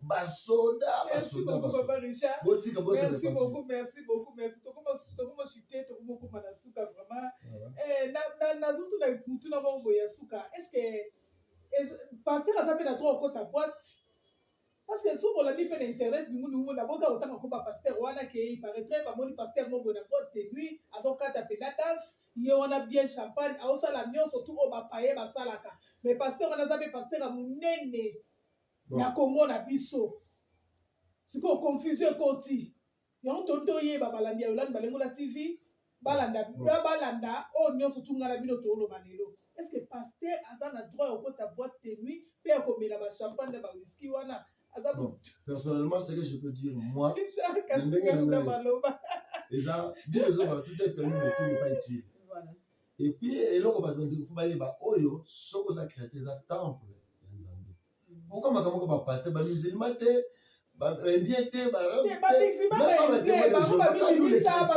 basoda basoda botika bosamerci beaucoup merci beaucoup merci tokoma chite tokomokoma na suka vraiment eh, nazotuna motuna moko boye ya suka est ce que paster aza mpe na tro okota boite parce que soki olandi mpe na internet ningunungu na boka otanga ko bapaster wana ke iparetre bamoni paster moko boye na boite de nuit azokata mpe na danse ye wana bien champagne aosala nyonso tu oyo bapaye basalaka mais paster wana aza mpe paster ya monene bon. na congo na biso sikoyo confusion ekoti yango toni toyeba balandi ya yolande balengola tv balanda Bon. balanda oyo nyonso tunga na bino tooloba lelo est ce que paster aza na droit ya kokota boite de nuit mpe ya komela bachampagne na bawiski wana aza Bon. personnellement ce que je peux dire moi Jacques Ndenge na Atikanga ngai. maloba eza bible ezoba tout est permis mais tout n'est pas utile Voilà. Et puis eloko bato bandiki mpo bayeba oyo soki oza chrétien eza temple ya nzambe pourkoi makambo moko bapaster bamusulma te baindien te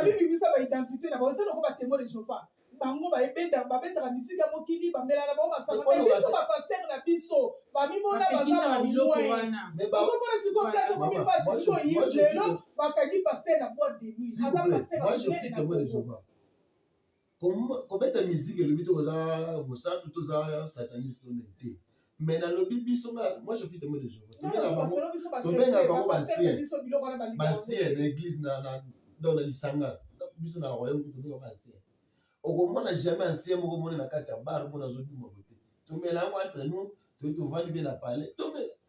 babimisa baidentité na bango eza loko batemoi de jehova bango babetaka misika mokili bamelaka bango masanga me biso bapaster na biso bamimona baza bamoinozomona sikoyo place okomi mpasi sikoyo ye lelo bakangi paster na boite de nuit aza paster kobeta musique elobi te koza mosatu toza sataniste to nini te mais nalobi biso nga moi je suis témoin de Jéhovah tobenga bango tobenga bango basien basien na église na na donc na lisanga biso na royaume tobenga basien okomona jamais ancien moko moni na kati ya bar mpo nazoduma bote tomela yango entre nous toyi tovandi mpe na palais tomela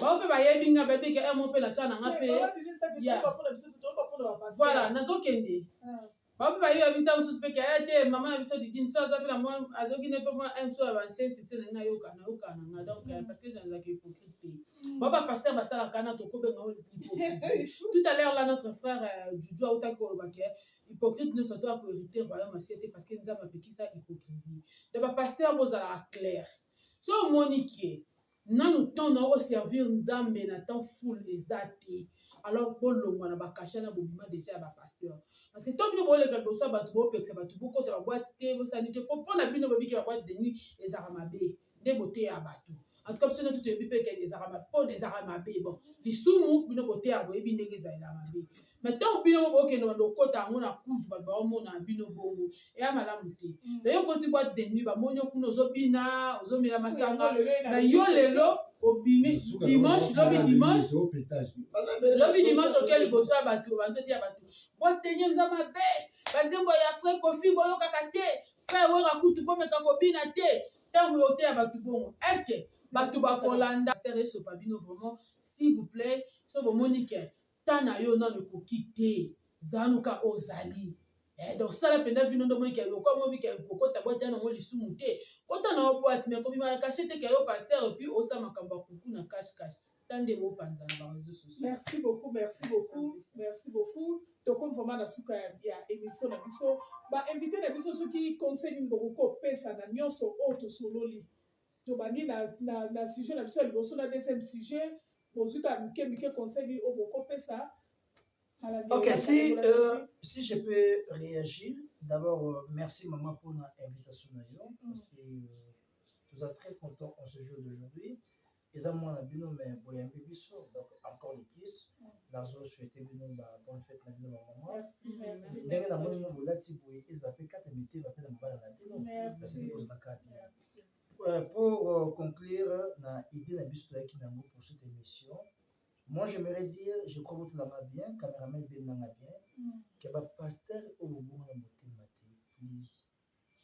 bango mpe bayebi nga bayebi ke emo mpe natya na nga mpe voilà nazokende ah. bango mpe bayebi bayebi ntango mosusu mpe ke aya eh, te mama na biso didine so aza mpe na mwa azoki ne mpe mwa mso ya banse succès na ngai nayoka nayoka na nga donc euh, parce que nazalaka hypocrite te hmm. bango bapaster basalaka na tokobenga oyo hypocrisie tout à l'heure là notre frère juju euh, autaki koloba ke hypocrite nyonso to akohérite royaume asie te parce que nzambe apekisa hypocrisie donc bapaster bozalaka claire so omoni ke Nanu temps na o servir Nzambe na temps full eza te. Alors bolongwa na bakasha na bobima deja ya ba pasteur. Parce que tant bino boleka liboso ya bato bopekisa bato bokota ba boite te bosala nini te po mpo na bino boyebi ke ba boite de nuit ezalaka mabe nde boteya bato. En tout cas biso natu toyebi mpe ke ezalaka mabe po ezalaka mabe bon lisumu bino boteya boyebi ndenge ezalela mabe. mais ntango bino moko bokende banda okota yango na kuzu bato baomona bino bongo eya malamu te mm. naye okoti bwa demi bamoni yo kuna ozobina ozomela masanga na yo lelo obimi dimanche lobi dimanche lobi dimanche oke liboso ya bato bandoti ya bato boteni oza mabe banzembo ya frai kofi boyokaka te frai wera kutu bomeka kobina te ntango oteya bato bongo estce bato bakolanda stere esopa bino vraiment s'il vous plaît so bomoni ke temps na yo nanu ekoki te zanu ka ozali eh, donc sala mpenza vino nde omoni keke lokola mobi keke kokota bwate ya nango lisumu te kota na yo bwate me kobima na kashe te ke yo paster epuis osala makambo ya kuku na kashe kashe ta nde bopanza na bareseau sociaux merci beaucoup merci beaucoup merci beaucoup tokomi vraiment na suka ya émission na biso bainvité na biso soki conseil nini bokoki kopesa na nyonso oyo tosololi Tobandi na, na, na sujet na biso ya liboso na deuxième sujet. Bozwi kaka mike mike conseil nini oyo bokopesa kala nde Ok, si, oyaka euh, bolakisi. si je peux réagir, d'abord, euh, merci maman pour l'invitation na yo, parce que euh, nous sommes très contents en ce jour d'aujourd'hui. Eza mwana bino mais boyambi biso, donc encore de plus, nazo souhaiter bino ba bonne fête na bino ba maman. Merci, merci. Ndenge na moni bino bolati boye, ezala pe kata mitema pe na mabala na bino, Merci. kasi nde kozala kaka bien. Euh, pour euh, conclure na idée na biso toyaki nango pour cette émission moi j'aimerais dire je crois botalanga bien cameraman ebendanga bien mm. ke bapasteur oyo bobonga na motema te please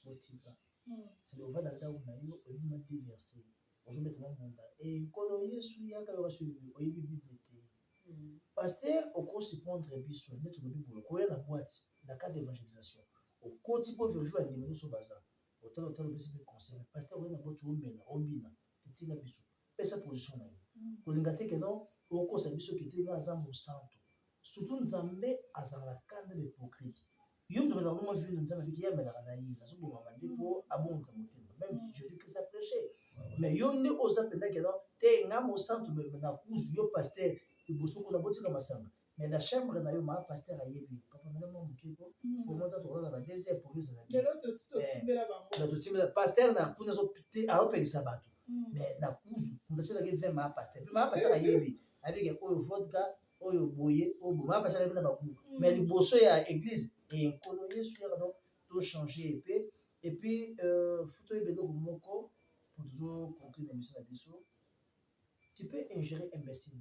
botika mm. sele ova na ndako na yo oyebima te verse ozobeta mwa mbunda ekolo eh, yesu yaka yoka soyi oyebi bible te mm. pasteur okorespondre biso nde tolobi boye koya na boite na cadre d'évangélisation okoti mpo verifie bandimi nyonso baza Otala otala opesi mpe conseil mais pasteur oye na boti omela obina te tika biso pesa position na yo kolinga te keno okosa biso kete nga aza mosantu surtout nzambe azalaka kanda ba hypocrite yo moto obelaka bongo vino nzambe abiki ye amelaka na ye nazobomama nde mpo abongisa motema meme jésus christ a prêche mais yo nde oza mpenza keno te nga mosantu nakuzu yo pasteur liboso kuna botika masanga Mais la chambre na yo ma pasteur ayebi papa mela mwa moke ko mm. po mota tokolala ba deux heures police ezali lelo totimbela eh, bango totimbela pasteur na kuna azopelisa bato mm. mais na kuzu moto atyelaki vin ma pasteur mpe ma pasteur ayebi abike oyo vodka oyo boye oyo boye ma pasteur ayebi na bakuku mm. mais liboso ya église eye eh, nkolo yesu yaka donc tochange epe epuis euh, futo yeba eloko moko po tozo conclure na biso na biso tu peux ingérer imbécile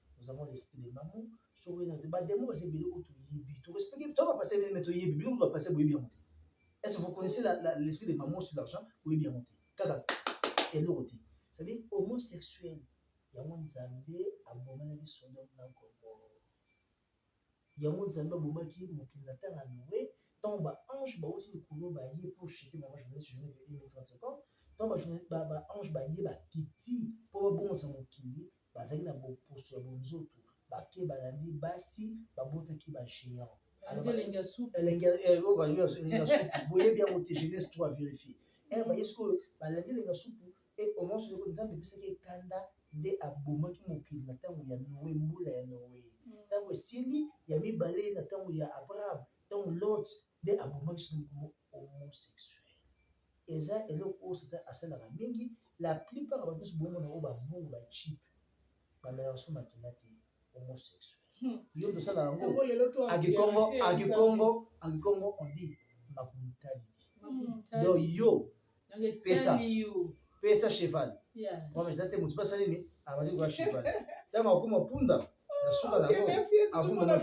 Nous avons l'esprit de maman. Soki oyena te ba demons baza ebele oyo toyebi. To respecte to ba passer bien mais toyebi bino ba passer boyebi yango te. Est-ce que vous connaissez la, la l'esprit de maman sur l'argent boyebi yango te. Kaka eloko te. Ça veut dire homosexuel yango Nzambe abomelaki Sodome na Gomorrhe. Yango Nzambe abomaki ye mokili na temps ya Noe, tango ba anges bawuti likolo baye pour chuter maman journaliste journée de 1.30 secondes, tango ba journal ba ba anges baye ba kiti po ba bongisa mokili, bazalaki na boposo ya bonzoto, bake balandi basi, babotaki ba geants. Alaki elengi ya supu. Elengi ya eh, oyo ba elengi ya supu, boyebi yango te, Genese 3 verifier. Eh, baye sikoyo balandi elengi ya supu, Mpe o mwa solo oyo Nzambe epesaki ye kanda, nde abomaki mokili na ntango ya Noe, mbula ya Noe ntango esili, ya mibale na ntango ya Abraham, ntango Lot, nde abomaki solo moko mo homosexuel. Eza eloko oyo Satan asalaka mingi, la plupart ya bato nyonso bomona bango ba mbungu, ba cheap, bamelaka so makila te, homosexuel. Yo nde osala yango? Yango lelo to A Kikongo, environne te a Nzambe. Kikongo, a Kikongo on dit makuntali. Donc yo pesa pesa cheval mama eza te motu mpe asali nini abandi koya cheval ntango akoma punda na suka na yango avuma na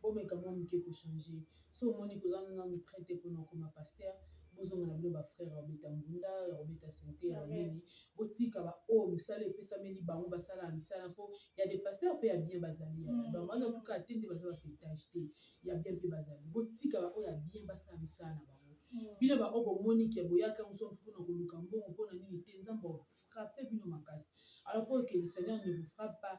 Bomeka mua muke ko changer. Soki omoni que ozangi nanu pret te pona okoma pasteur, bozonga na bino ba frères ya kobeta mbunda, ya kobeta sente, ya nini. Botika ba oyo musala epesameli bango basala misala po ya des pasteurs pe ya bien bazali ya donc baza tout cas te nde baza ba petage te ya bien pe bazali. Botika ba oyo ya bien basala misala na bango. Bino ba oyo bomoni que boyaka yango soki pona koluka mbongo pona nini te Nzambe ako frapper bino makasi. Alors po que le Seigneur ne vous frappe pas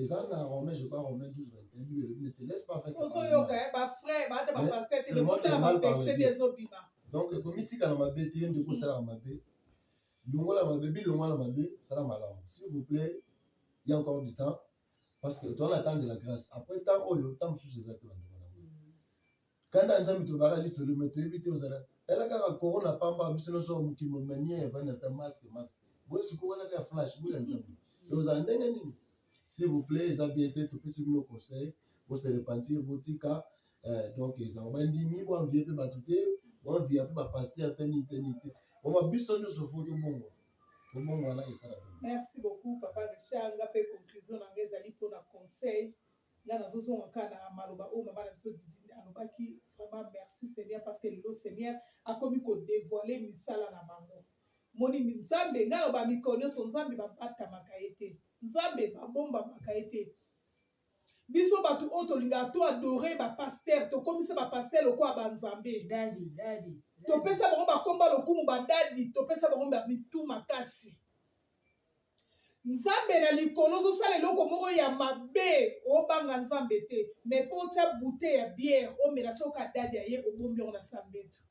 eza na romain je crois romain 12 21 bible elobi nete laisse pas faire ozoyoka eh, ba frère ba ata ba pasteur te lokuta na ba texte te ezobima donc ekomitika na mabe te yende kosala na mabe longola mabe bilongwa na mabe sala malamu s'il vous plaît il y a encore du temps parce que toza na temps de la grâce après temps oyo temps mosusu eza te bandeko kanda nzambe tobaka lifelo me toyebi te ozala tala kaka corona pamba biso nyonso ya mokili momanie ya vanda sta maske maske boye sikoyo wana kaka flash boya nzambe tozala ndenge nini s'il vous plaît eza bien te topesi bino conseil bose repentir botika eh, donc ezango bandimi boanvie mpe bato te boanvia mpe bapaster te nini te nini te oma biso nyonso fo tobongo tobongo wana esala bino merci beaucoup papa richard nga mpe conclusion na nga ezali mpona conseil Nga nazo zonga kaka na maloba oyo mama na biso Didine alobaki vraiment merci Seigneur parce que lelo Seigneur akomi ko devoiler misala na bango moni nzambe nga loba mikolo nyonso nzambe babatamaka ye te nzambe babombamaka ye te biso bato oyo tolingaka to adore bapaster tokomisa bapaster lokola banzambe topesa bango bakomba lokumu badadi topesa bango bamitu makasi nzambe na likolo ozosala eloko moko ya mabe obanga nzambe te me mpo otya bute ya biere omela soki kadadi aye obombi yango na sambetu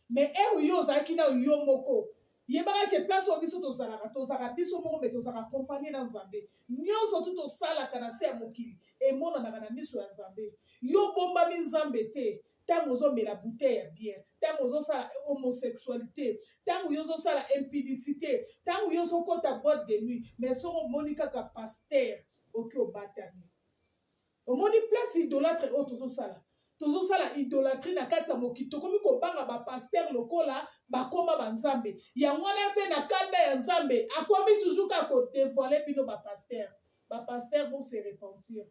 me ere yo ozalaki na yo moko yebaka ke place oyo biso tozalaka tozalaka biso moko me tozalaka kompanie na nzambe nyonso tu tosalaka na se ya mokili emonanaka na miso ya nzambe yo obombami nzambe te ntango ozomela bouteille ya bière ntango ozosala homosexualité ntango yo ozosala impudicité ntango yo ozokota boîte de nuit mais soki omoni kaka paster oki obatami omoni place idolatre oyo tozosala tozosala idolatrie na kati ya mokili tokomi kobanga bapaster lokola bakoma banzambe yango wana mpe na kanda ya nzambe akomi toujours kaka kodevoile bino bapaster bapaster bose repentir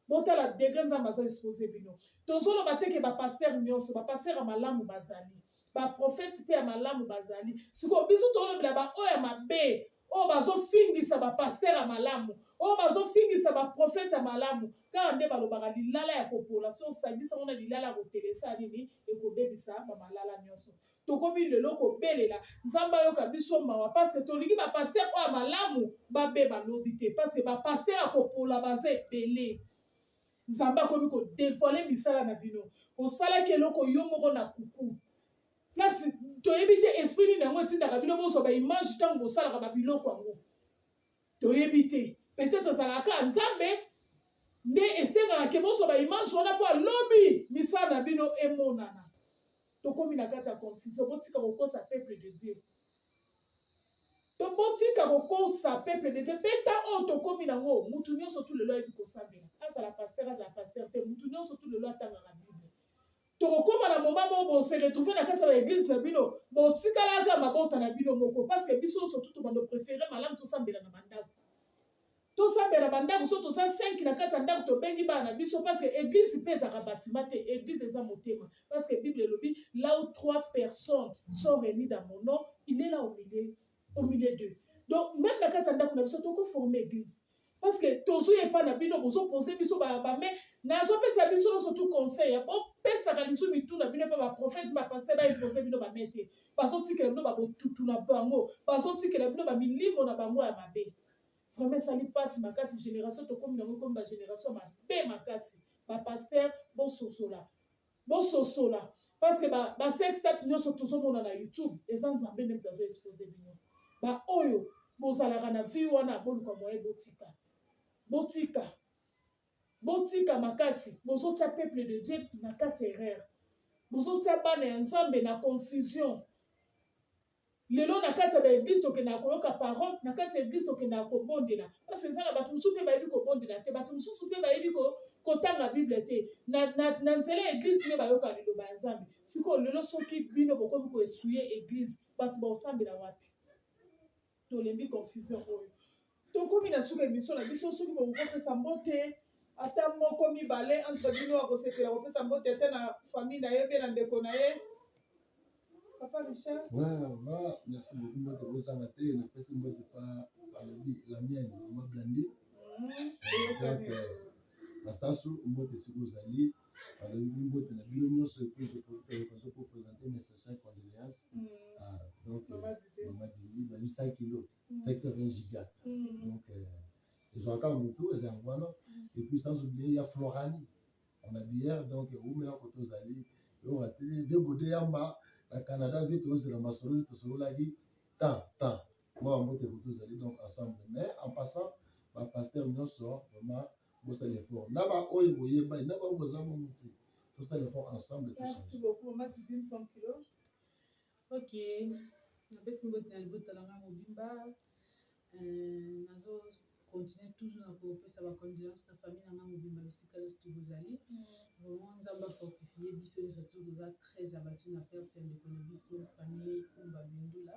botala degre nzambe azo expose bino tozoloba te ke bapastere nyonso bapastere ya malamu bazali baprofete mpe ya malamu bazali sikoyo biso tolobela baoyo ya mabe oyo bazofingisa bapastere ya malamu oyo bazofingisa baprofete ya malamu kaka nde balobaka lilala ya kopola so osangisa ngo na lilala ya kotelesa nini ekobebisa bamalala nyonso tokomi lelo kobelela nzambe ayoka biso mawa parceke tolingi bapaster oyo ya malamu babeba lobi te parceke bapaster ya kopola baza ebele nzambe akomi kodevoile misala na bino osalaki eloko yo moko na kuku place toyebi te esprit nini yango etindaka bino bozwa baimage ntango bosalaka babiloko yango toyebi te peut-être ezalaka kaka nzambe nde esengaka ke bozwa baimage wana mpo alobi misala na bino emonana tokomi na kati ya confusion botika kokosa peuple de dieu to botika kokosa peuple de dieu beta oyo tokomi nango mutu nyonso tu lelo ayebi kosambela azala pasteur azala pasteur te mutu nyonso tu lelo atangaka bible tokokoma na moma moko bose retrouve na kati ya baeglise na bino botikalaka mabota na bino moko parceke biso nyonso tu tobando prefere malamu tosambela na bandako tosambela ba ndako so toza 5 na kati ya ndako tobengi bana na biso parce que église mpe ezaka bâtiment te église eza motema parce que bible elobi là où trois personnes sont réunies dans mon nom il est là au milieu au milieu d'eux donc même na kati ya ndako na biso toko forme église parce que tozwi epa na bino bozopose biso bame nazopesa biso nyonso tu conseil bopesaka lisu mitu na bino mpe baprofete bapaster baepose bino bame te ba bazotikela bino babotutu na bango bazotikela bino bamilimo na bango ya mabe vraiment esali mpasi makasi génération tokomi nango ekomi bagénération mabe makasi bapaster bososola bososola parce que basextape nyonso tozomona na youtube eza nzambe nde moto azo expose bino baoyo bozalaka na vie wana boluka moye botika botika Botika makasi bozotia peuple de Dieu na kati ya erreur. Bozotia bana ya Nzambe na confusion. Lelo na kati ya ba eglise tokendaka koyoka parole, na kati ya eglise tokendaka kobondela. Parce eza na bato mosusu mpe bayebi kobondela te, bato mosusu mpe bayebi ko, kotanga Bible te. Na, na, na nzela ya eglise nde bayoka liloba ya Nzambe. Sikoyo lelo soki bino bokomi koesuye eglise, bato baosambela wapi? Tolembi confusion oyo. Tokomi na suka emission na biso soki bokoki kopesa mbote ata moko mibale entre bino akosepela kopesa mbote ata na famille na ye mpe na ndeko na ye papa richard vraiment merci beaucoup mbote kozanga te napesi mbote pa balobi la mienne mama blandi mhm. donc euh, masasu mbote esika ozali Alobi bi mbote na bino nyonso et puis je profite ya l'occasion pour présenter mes sincères condoléances à donc euh, Maman Didi. Maman Didi bayebi 100 kilos 520 giga donc euh, ezwaka motu eza yango wana et puis sans oublier ya Florani on a bière donc ewumela koto ozali eyoka te de gode yamba na Canada mpe tozela masolo tosololaki temps temps mwa mbote koto ozali donc ensemble mais en passant ba pasteur nyonso vraiment bosala effort na ba oyo boye bai na ba boza mo muti tosala effort ensemble to changer merci beaucoup ma cuisine 100 kg OK napesi mbote na libota na ngai mobimba euh, nazo continue toujours na kopesa bacondoléance na famille na ngai mobimba bisika nyonso to bozali mm. vraiment nzambe afortifie biso nyonso to toza très abattu na perte ya ndeko na biso famille kumba bindula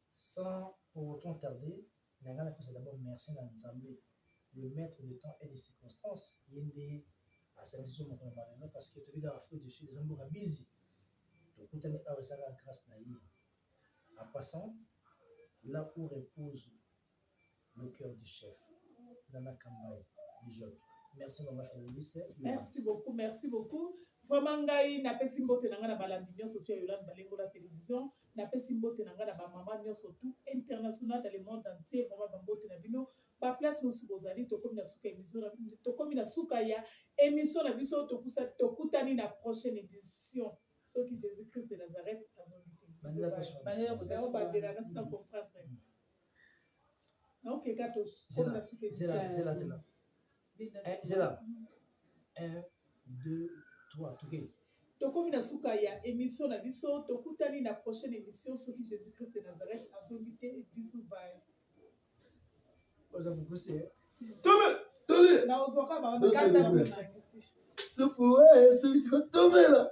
Sans pour autant tarder, mais ngai napesa d'abord merci na Nzambe, le maitre de temps et de circonstances, ye nde asangisi biso mokolo mwa lelo parce que toyebi kaka Afrique du Sud eza mboka busy, tokutani awa eza kaka grace na ye. En passant, là où repose le cœur du chef Nana Kambaye Bijotte merci maman féministe merci beaucoup merci beaucoup vraiment ngai napesi mbote na ngai na balandi nyonso tu ya yolande balengo na télévision napesi mbote na ngai na bamama nyonso tout international dans le monde entier vraiment bambote na bino baplace mosusu bozali tokomi na suka émission tokomi na suka ya émission na biso tokusa tokutani na prochaine émission soki jésus christ de nazareth azongi te bandela kotala na sina comprendre Okay, gato. Zela, zela, zela, zela. Eh, zela. Un, deux, trois, tout okay. tokomi na suka ya émission na biso tokutani na prochaine émission soki jésus christ de nazareth azongi te bisu baye naozwaka baokataa soki tikotomela